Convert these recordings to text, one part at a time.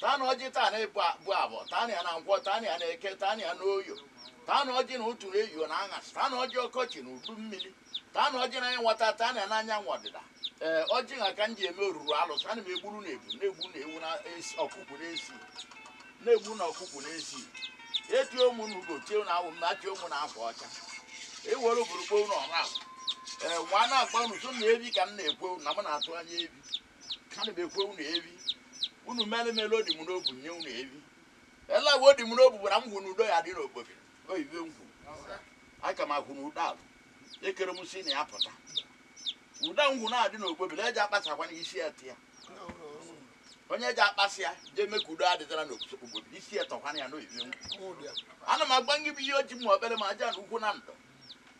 Taanụ ọjị, taanụ ịbụ abụ abọ, taanụ ya na nkwọ, taanụ ya na eke, taanụ ya na oye, taanụ ọjị n'ụtụtụ na eyio na aṅasị, taanụ ọjị ọkọchị na udu mmiri, taanụ ọjị n'anya nwata, taanụ ya n'anyanwụ ọdịda. Ee, ọjị a ka m ji eme oruru alụsị, ana m egburu unu ebu, na-egbu unu ewu na esi ọkụkụ n'esi, na-egbu na ọkụkụ n'esi. Etie m unu ugo, tie na awụ m, na-achị unu akwa ọcha. Ewere obodo kpoo na ọra. Ee, nwa na-agba unu so na evi ka m na-ekwe unu na m na-atụ anya evi. ana m ekwe unu evi unu mere m ele ọ dị m n'obu nye unu evi ele awa ọ dị m n'obu gwara m hụ na udo ya-adị n'okpoke oyibe ngwu aka m akwụ na udo alụ ekere m si na ya pụta udo ngwu na-adị n'okpoke na eji akpasakwa na isi eti ya onye eji akpasị ya jee mee ka udo adịtara n'obodo isi etọkwana ya n'oyibe ngwu ana m agba ngị bụ ihe ọjị m okpere ma aja na ukwu na ndụ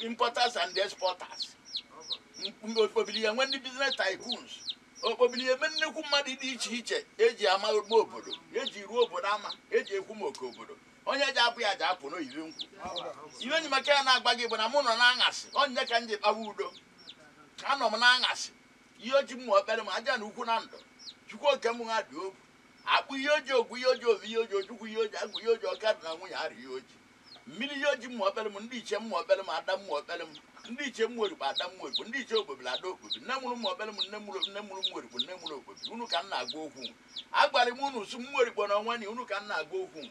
importers and exporters okpobili ya enwe ndị business tycoons okpobili ya eme nnekwu mmadụ dị iche iche eji ama ogbe obodo eji ruo obodo ama eji ekwu maka obodo onye ji apụ ya ji apụ n'oyibi nkwụ ihe onye maka ya na-agba gị bụ na mụ nọ n'aṅasị onye ka m ji kpawa udo anọ m n'aṅasị ihe ọjị mmụọ ekpere m aja na ukwu na ndụ chukwu oke m ha dị obu akpụ ihe ọjị ogwu ihe ọjị ovi ihe ọjị ojukwu ihe ọjị agwụ ihe ọjị ọka di na nwunye arụ ihe ọjị Mmiri ya ọjị mma okpere m, ndị ichie mma okpere m, ada mma okpere m, ndị ichie mma orikpo, ada mma orikpo, ndị ichie okpobiri, ada okpobi, nne mụrụ mma okpere m, nne mụrụ nne mụrụ mma orikpo, nne mụrụ okpobi, unu ka m na-agwa okwu. Agwara m unu sị mma orikpo na ọnwani, unu ka m na-agwa okwu.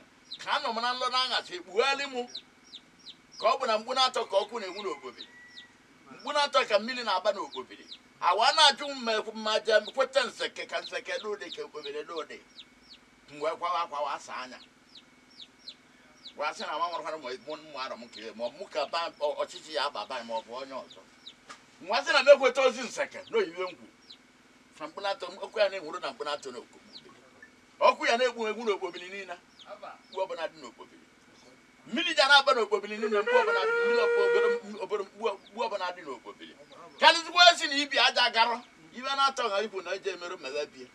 Ka anọ m na nlọ na aṅasị, ekpugharị mụ ka ọ bụ na mkpu naatọ ka ọkụ na-enwu n'okpobiri. Mkpu naatọ ka mmiri na-agba n'okpobiri. Awa na-ajụ m ma ekwu- ma je kweta nseke ka nseke dị ụdị ka okpobiri dị ụdị. M wee kwawa akwa asa anya. gwasị na nwa nwarụkwara ma mụ mụ arọ m ka ya ma ọ bụ mụ ka ba ọ- ọchịchị ya aba ba ma ọ bụ onye ọzọ nwa sị na m ekweta ozi nseke na oyiwe ngwu na mkpu naatọ ọkụ ya na-enwuru na mkpu naatọ na okpokpo ọkụ ya na-egbu egbu n'okpobiri niile mkpu ọbụla dị n'okpobiri mmiri ya na-agba n'okpobiri niile mkpu ọbụla dị mmiri ọkụ obere obere mkpu mkpu ọbụla dị n'okpobiri karịzikwa esi na ibi aja garọ ibe na-atọ ha ibu na eji emerụ mmebe bie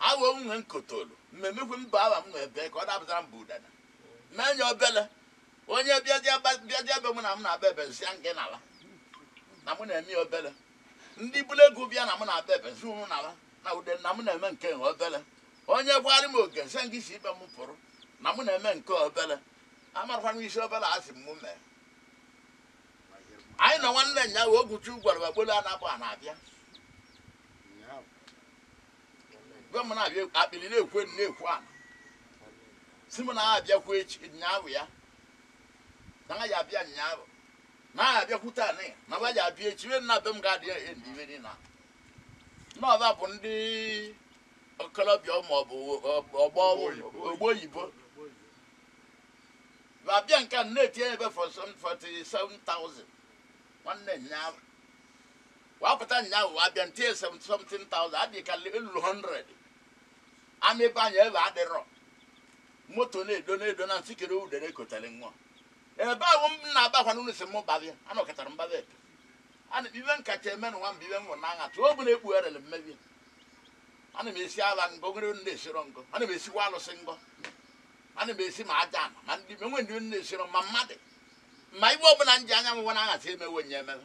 Awo m nwe nkotolu, mmemekwe m bụ awa m nwe bee ka ọ dapụtara m bụ udene. Mee nye obele onye bịazie ba- bịazie ebe mụ na m na-agba ebe nsị ya nke nala na mụ na-eme ya obele. Ndị bụrụ ego bịa na mụ na-agba ebe nsị unu nala na udene na mụ na-eme nke nwe obele. Onye gwarị m oge nsị nke si ibe m pụrụ na mụ na-eme nke obele. Amarakwa m isi obele a sị m mụ mee. Anyị nọ nwanne nya wee okwuchu gwara wagbolu anabụ a na-abịa. gwa m na-abịa akpịrị na-ekwu elu na-ekwu ala sị m na abịakwa echi nyaabụ ya na ha ya abịa nyaabụ na ha abịakwute anị na ha ya abịa echi na be m ga-adị endi ibe dị na n'ọba bụ ndị okolobịa ma ọ bụ ọgbọ ogbo oyibo ma abịa nke a na-etinye ebe for some 47,000 nwanne nyaabụ Wa pụta nyaahụ wa bịa ntie 70 something thousand adị ka elulu 100 ama ebe anya ebe adịrọ moto na-edo na-edo na nsị kere udere kotele nwa ebe ahụ m na-agbakwa n'ụlọ si m babịa anọkọtara mbaba ebe ana m ife m kacha eme n'ụwa mba ibe m nwụrụ n'agha tụọ ọbụla ekpugherere mmebi ana m esi ala ngọ nwere ndị esiro ngọ ana m esikwa alụsị ngọ ana m esi ma aja ana ma ndị enwe ndị ndị esiro ma mmadụ ma ife ọbụla m ji anya m nwa na-aghasị emewe nye ememe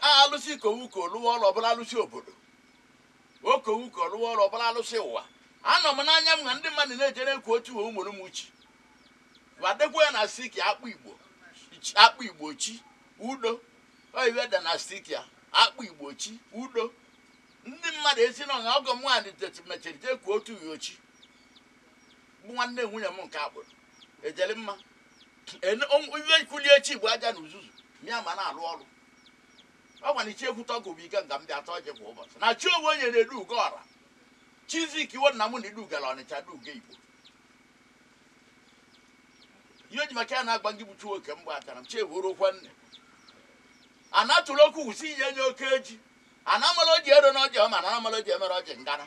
a alụsị kowuko lụwa ọrụ ọbụla alụsị obodo okowuko lụwa ọrụ ọbụla alụsị ụwa anọ m n'anya m na ndị mmadụ na-ejere ekwu otu uwe ụmụrụ m uchi wa dekwa ya na sticker akpọ igbo chi- akpọ igbo chi udo oyiwe de na sticker akpọ igbo chi udo ndị mmadụ esi na ọgọ m nwaanyị mechiri jee kwuo otu uwe ochi bụ nwanne nwunye m nke agbụrụ ejele mma Ene- o- iwe kulie echi bụ aja na uzuzu mịa ma na-alụ ọrụ ọ gwara ichi egwu tọgụ bụ ike nga m bịa tọọ je kwa ụbọchị na chi onwe onye na-edu ugo ọra chizik iwo nna m na idu gara ọnịcha du ugo igbo ihe ji maka ya na-agba ngị bụ chi nwoke mgbe achara m chi ewuru ọkwa nne a na-atụrụ okwu wusi ihe nye oke eji a na-amala oji ero na ọjị ọma na amala oji emere ọjị ngana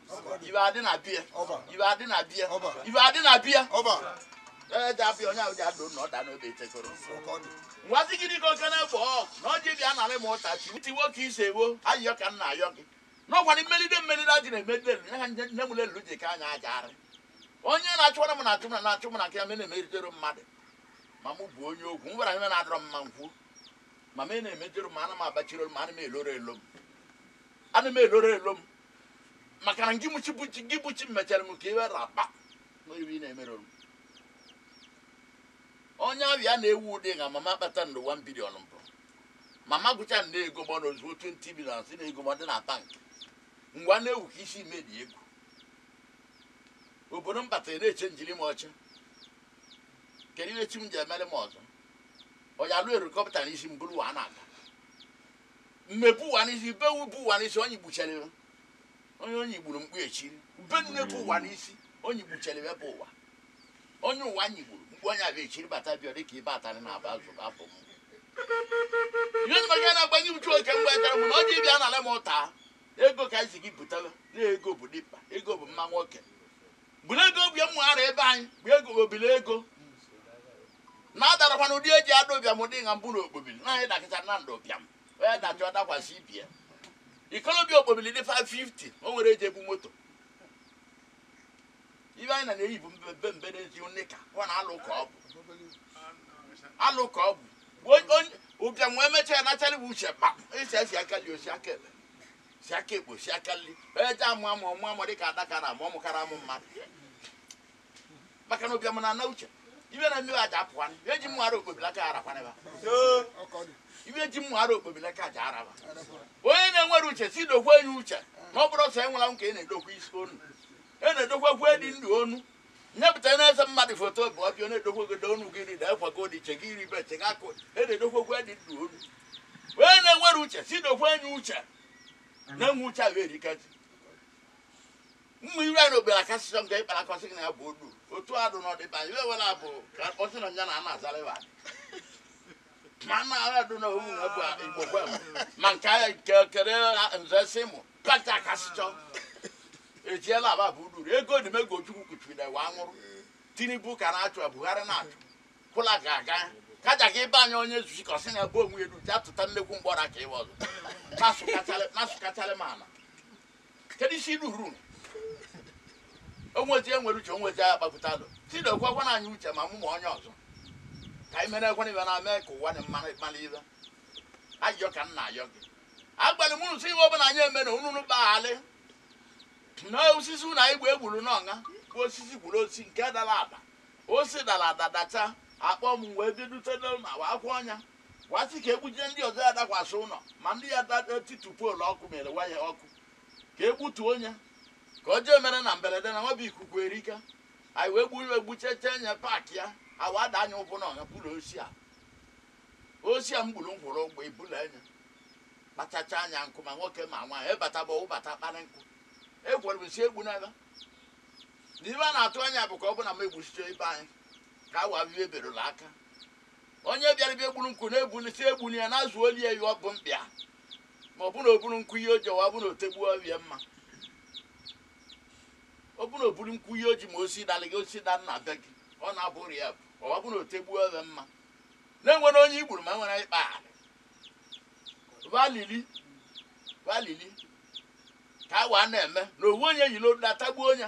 ibe adị na bie ibe adị na bie ibe adị na bie ee ji abịa onye ahụ ji adụ na ọ daa n'obe etekoro ngwazi gịnị ka oke na-egbo ọ na ọ ji bịa narị m ụta chi ti nwoke isee wo ayịyọ ka m na-ayọ gị n'ọkwa na m melide m melide ajị na-eme ndị elu ha nne nne m lelu ji ka anya aja arị onye na-achụwara m na-achụ m na na-achụ m na nke ya me na-emeritere mmadụ ma mụ bụ onye okwu m gwara ihe na-adịrọ m mma nkwu ma me na-emejere m ana m abachiri olu m ana m eloro elo m ana m eloro elo m maka na gị bụ chi bụ chi gị bụ chi mechara m ka iwe raba n'ife ị na-emere m onye abịa na-ewu ụdị nga m ama akpata ndụ 1 billion mbụ m ama agụcha nde ego ma ọ na ozuo 20 billion si na ego ma ọ dị na bank ngwa na-ewu ka isi medi egwu obodo m batara na-eche njiri m ọcha kedu ihe chi m ji emere m ọzọ ọya lụ erikọpụta na isi m bụrụ wa na-aga mme buwa n'isi be wu buwa n'isi onye gbuchelịrị onye onye gburu mkpu echiri be nne buwa n'isi onye gbuchelịrị ebe ụwa onye ụwa anyị gburu mkpu onye abịa echiri bata bịa dịka ibe atarị na aba azụ abụ m ihe ndị maka na-agbanye uchu oke mgbe ekere m na ọ dị ịbịa anara m ụta ego ka anyị si gị butara na ego bụ dimkpa ego bụ mma nwoke bụrụ ego bụ ya mụ ara ebe anyị bụ ego obile ego na adarakwa na ụdị eji ada ụbịam ụdị nha mbụ na okpobili na anyị dakịta na ndụ ụbịam onye dachọ dakwasị ibie ikolobịa okpobili dị 550 o nwere eji ebu moto ibe anyị na na-eyi bụ mbe mbe na-eji nika ọ na alụ ka ọ bụ alụ ka ọ bụ Onye- onye- ụbịam wee mechaa ya nacharị bụ uche kpa isi esi aka nli o si aka ekpe si aka ekpe si aka nli onye ji amụ amụ ọmụ amụ dịka adakara amụ ọmụkara amụ mmadụ maka na ụbịam na-ana uche ibe na mmiri aja apụwa ibe ji mmụ ara okpobila ka ara kwaneba ibe ji mmụ ara okpobila ka aja araba onye na-enwere uche si dokwe ya uche na ọ bụrụ ọsọ enwela nke ị na-edokwa isi onu ị na-edokwa kwe dị ndụ onu nyepụta na-ese mmadụ foto bụ ọbịa na-edokwa ogodo onu gị rida ekwa ka odiche gị ribe che gị akụ ị na-edokwa kwe dị ndụ onu onye na-enwere uche si dokwe ya uche na-enwe uche ahụ erikazi mma ire anyị n'ogbere aka sịsọ nke ịkpara akọsị gị na ya bụ olu otu adụ n'ọdịba iwe wela bụ ka akpọsị na nya na ana azara ịwa ma na agha dụ na owu na bụ igbo gwa m ma nke ahịa nke kere nze sị mụ pata aka sịchọ ejiela aba bụ uru ego dị mego chukwu kuchiri na iwe anwụrụ tinubu ka na-achụ ya buhari na-achụ kwụla ga-aga kaja ka ịba anya onye zuchi ka ọsị na bụ onwe elu ji atụta nnekwu mgbọra ka ịwa ọzọ na-asụkacharị m ala kedu isi ilu ruru o nwezi enwere uche o nwezi agha kpapụta alụ si dokwa nya uche ma mụ ma onye ọzọ ka anyị mere ekwe n'ibe na mee ka ụwa dị mma ịkpala ibe ayọ ka m na-ayọ gị agwalị m unu sị ihe ọbụla anyị eme na unu kpaghalị na osisi unu anyị gba egburu n'ọṅa bụ osisi gburu osisi nke dara ada osi dara ada dacha akpọ m wee bidote na-awa akwụ ọnya wa sị ka e gbujie ndị ọzọ ya dakwasị ụlọ mmadụ ya da etitu poolu ọkụ mere waya ọkụ ka e gbutuo nya ka o jee mere na mberede na nwabụ ikuku erika anyị wee gburu egbucheche nye paakị ya ha wee ada anya ụbụ na ọha buru osi a osi a m gburu m hụrụ ụgbọ ibulu enye kpachacha anya nkụ ma nwoke ma nwaanyị abataba ọ bata kpara nkụ egwere m si egbu n'ebe na ibe a na-atụ anya bụ ka ọ bụ na m egbuchiche ibe anyị ka awa bibe berụla aka Onye bịara bịa buru nkụ na-ebuli si ebuni ya n'azụ oli ya yụọ bụ mkpịa ma ọ bụrụ oburu nkụ ihe oji ọwa bụ na otegbuo ọbịa mma ọ bụrụ oburu nkụ ihe oji ma osi dalị gị osi da nna be gị ọ na-abụrụ ya bụ ọwa bụ na otegbuo ọbịa mma na-enwere onye igburu ma enwere ịkpa alị va lili va lili ka wa na-eme na owu onye yi n'odu atagbuo onye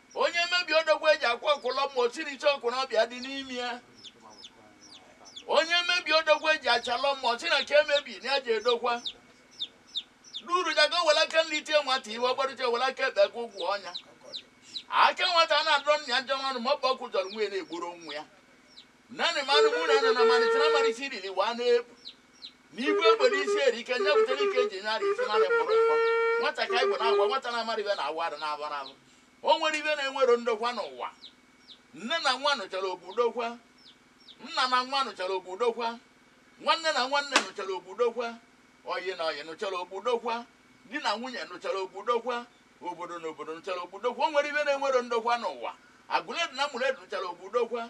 Onye mebi odogwu eji akwa ọkụlọ mma osiricha okorobịa dị n'ime ya onye mebi odogwu eji achalọ mma ọsị na ka emebi na ya ji edokwa duru jago were aka nri tie nwata ive ọgbarụcha were aka ekpe ka ụgwọ ọnya aka nwata a na-adọrọ nna ya njọ nwanụ ma ọ bụ ọkụkọ zọrọ nwa ya na egburo nwa ya nanị manụ mụ na nọ na malite na malite iriri wa na-ebu n'igwe obodo isi erike nye butere ike eji nyara isi mara mkpụrụ mkpọ nwata ka igbo na-agwa nwata na-amarọ ive na-awa arụ na-abara abụ O nwero ive na-enwero ndokwa n'ụwa. Nne na nwa nụchara ọkpọ dokwa. Nna na nwa nụchara ọkpọ dokwa. Nwanne na nwanne nụchara ọkpọ dokwa. Ọyị na ọyị nụchara ọkpọ dokwa. Di na nwunye nụchara ọkpọ dokwa. Obodo na obodo nụchara ọkpọ dokwa. O nwero ive na-enwero ndokwa n'ụwa. Aguleri na Umuleri nụchara ọkpọ dokwa.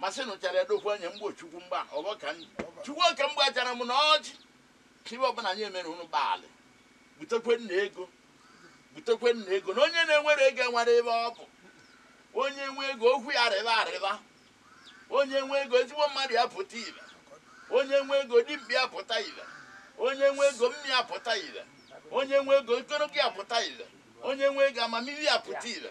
masịnụ chara edokwu anya mgbe chukwu mgba ọbọ ka nri chukwu oke mgba chara m na ọjị ive ọbụna anyị emere ụnụ gbalị butekwenu ego butekwenu ego na onye na-enwero ego enwero ive ọ bụ onye nwe ego okwu ya rịba arịba onye nwe ego ezigbo mmadụ ya pụta ive onye nwe ego dimkpa ya pụta ive onye nwe ego mma ya pụta ive onye nwe ego ogologo ya pụta ive onye nwe ego amamihe ya pụta ive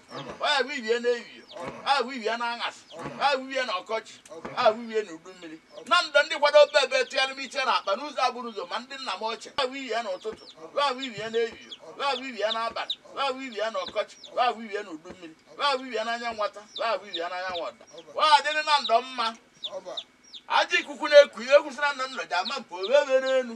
a wibie n'ehihie a wibie n'aṅasị a wibie n'ọkọchị a wibie n'udu mmiri na ndụ ndị kwado obe ebe tụgharị m iche na akpa n'ụzọ agbụrụ ụzọ ma ndị nna m ochie a wibie n'ụtụtụ a wibie n'ehihie a wibie n'abalị a wibie n'ọkọchị a wibie n'udu mmiri a wibie n'anya nwata a wibie n'anya nwada wa adịrị na ndụ mma aja ikuku na-eku ihe kwụsịra na ndụ ji ama mpe owe were enu